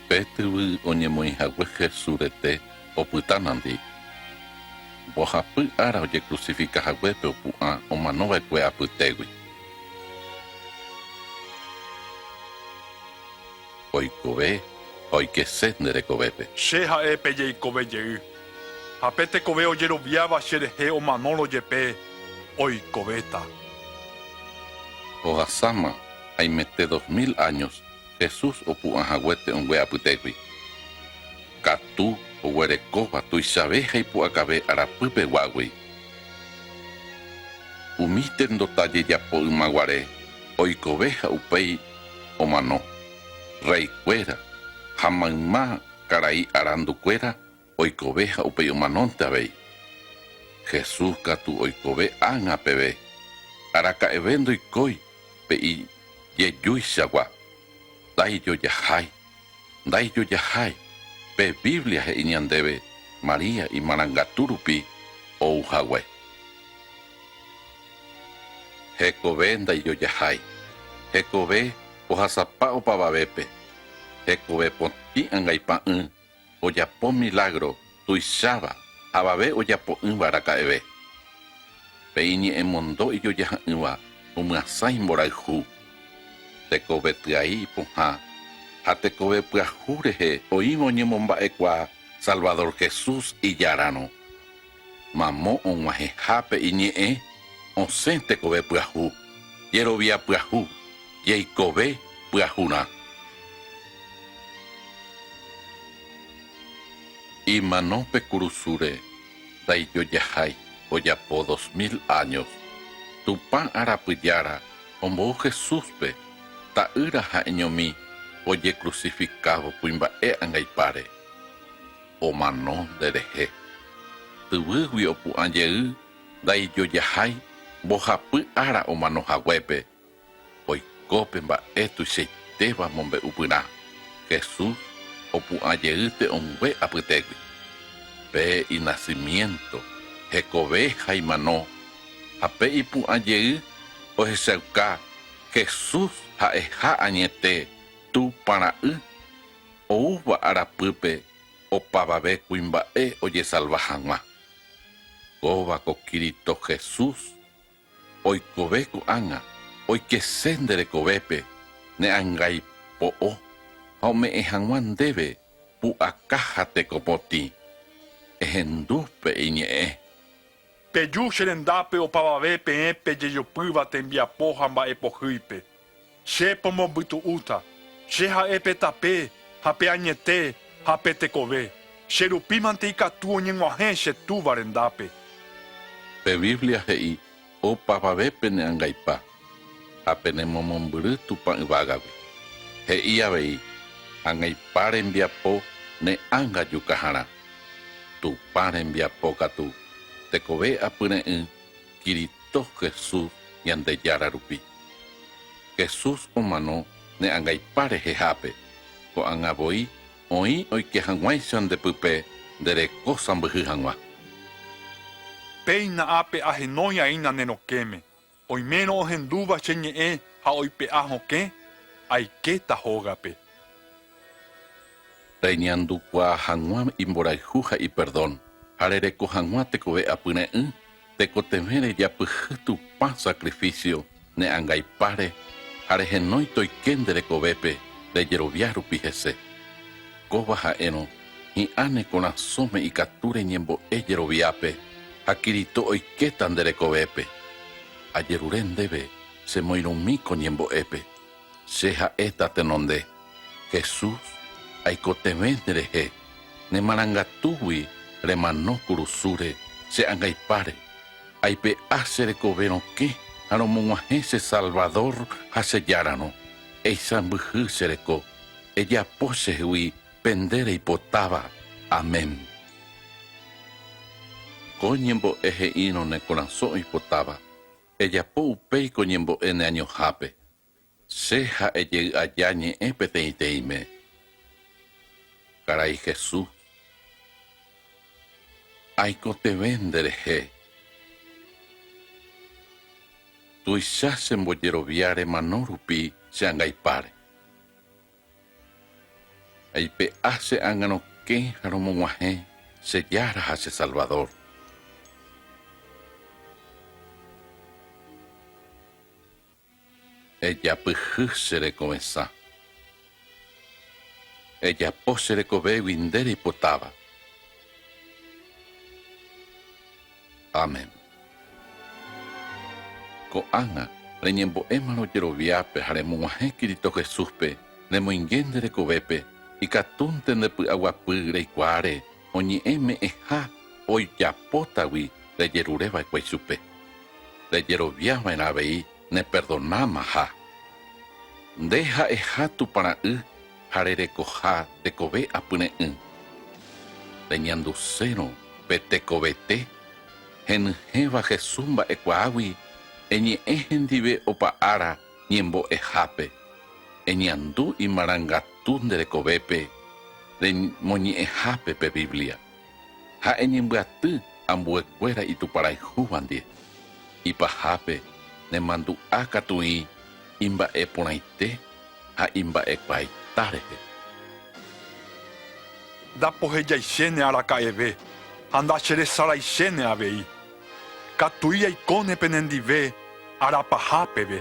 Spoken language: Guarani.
Pe tyvy oñemoĩhague Hesu rete opyta nandi. Mbohapy ára ojekrucifika hague pe opu'ã omano vaekue apytégui. oikove ha oikese ne rekovépe. Che ha'e pe jeikove jey, ha pe tekove ojeroviáva che rehe omanórõ jepe, oikovéta. Ohasáma haimete dos mil áños Jesús opu'ã hague te'õngue apytégui, katu oguerekóva tuichave ha ipu'akave arapypeguágui. Umi tendota jejapoymaguare oikove ha upéi omano, raikuéra ha mayma karai arandukuéra oikove ha upéi omanónte avei. Jesús katu oikove ág̃a peve, araka'eve ndoikói pe ijejúichagua, ndaijojahái. Ndaijojahái, pe Biblia he'i ñandéve María imarangatu rupi ou hague. Hekove ndaijojahái, hekove ohasapa opavavépe, hekove potĩ angaipa ỹ, ojapo milágro tuicháva avave ojapo'ỹva raka'eve. Pe iñe'ẽmondo ijojaha'ỹva omyasã imborayhu, tekove tyai ipohã ha tekove pyahu rehe oĩva oñemomba'ekuaa Salvador Jesús ijararõ. Mamo og̃uahẽhápe iñe'ẽ osẽ tekove pyahu, jerovia pyahu, jeikove pyahurã. Imano pe kurusúre ndaijojahái ojapo dos mil áños. Tupã arapy Jára ombou Jesúspe, Ta'ýra ha'eñomi ojekrusifikávo kuimba'e angaipáre. omano nderehe. Yvýgui opu'ã jey ndaijojahái mbohapy ára omano haguépe, oiko pe mba'e tuichaitéva mombe'u pyrã, Jesús opu'ã jey te'õngue apytégui. Pe inasimiénto, hekove ha imano, ha pe ipu'ã jey ohechauka Jesús ha'eha añete Tupã Ra'y. oúva arapýpe opavave kuimba'e ojesalva hag̃ua. Kóva ko Cristo Jesús, oikove ko'ág̃a oikese nde rekovépe ne angaipo'o ha ome'ẽ hag̃ua ndéve pu'aka ha tekopotĩ. Ehendu pe iñe'ẽ. Peju che rendápe opavave peẽ pejejopýva tembiapo ha mba'e pohýipe. Che pomombytu'úta, Che ha'e pe tape, ha pe añete, ha pe tekove, che rupi mante ikatu oñeg̃uahẽ che Túva rendápe. Pe Biblia he'i, Opavave pene'angaipa. Ha penemomombyry Tupã yvágagui, he'i avei, Angaipa rembiapo ne ánga jukaharã. Tupã rembiapo katu, tekove apyre'ỹ Kirito Jesús Ñandejára rupi. Jesús omano ne angaipa rehehápe, ko'ág̃a voi oĩ oike hag̃uáicha nde pype nde reko sãmbyhy hag̃ua. Péina ápe ahenói'aína ne rokẽme. Oimérõ ohendúva che ñe'ẽ ha oipe'a hokẽ, aikéta hógape. Reñandukuaa hag̃ua imborayhu ha iperdón, ha rereko hag̃ua tekove apyre'ỹ, tekotevẽ rejapyhy Tupã sakrifísio ne angaipáre ha rehenói toike nde rekovépe rejerovia rupi hese. Kóva ha'érõ Hi'ã ne korasõme ikatu reñembo'e jeroviápe ha Cristo oikéta nde rekovépe. Ajerure ndéve chemoirũmi ko ñembo'épe. Che ha'éta tenonde, Jesús, aikotevẽ nerehe, ne marangatúgui remano kurusúre che angaipáre. Aipe'a che rekove rokẽ ha romog̃uahẽ che Salvador ha che Járarõ. Eisãmbyhy che reko, ejapo chehegui pende reipotáva. Amén. Ko ñembo'e he'írõ ne korasõ oipotáva, ejapo upéi ko ñembo'e ne añohápe. Che ha ejey aja ñe'ẽ peteĩteĩme. Karai Jesús, aikotevẽ nde rehe. Tuicha chembojerovia remano rupi che angaipáre. Aipe'a che ánga rokẽ ha romog̃uahẽ che Jára ha che Salvador. Ejapyhy che rekovesã. Ejapo che rekovégui nde reipotáva. Amén. Ko'ág̃a, reñembo'émarõ jeroviápe ha remog̃uahẽ Cristo Jesúspe, remoinge nde rekovépe, ikatúnte nde py'aguapy reikuaáre oñe'ẽ me'ẽha oijapótagui rejerure va'ekue ichupe. Rejerovia va'erã avei neperdonáma ha. Nde ha'eha Tupã Ra'y, ha rerekoha tekove apyre'ỹ. Reñandusérõ pe tekovete henyhẽva Jesús mba'ekuaágui eñe'ẽ hendive opa ára ñembo'ehápe, eñandu imarangatu nde rekovépe remoñe'ẽhápe pe Biblia. ha eñembyaty ambuekuéra ituparayhúva ndie, ipahápe nemandu'a katuĩ imba'e porãite ha imba'ekuaaita rehe. Ndapohejaichéne araka'eve ha ndacheresaraichéne avei. Katuí aikóne penendive ára paha peve.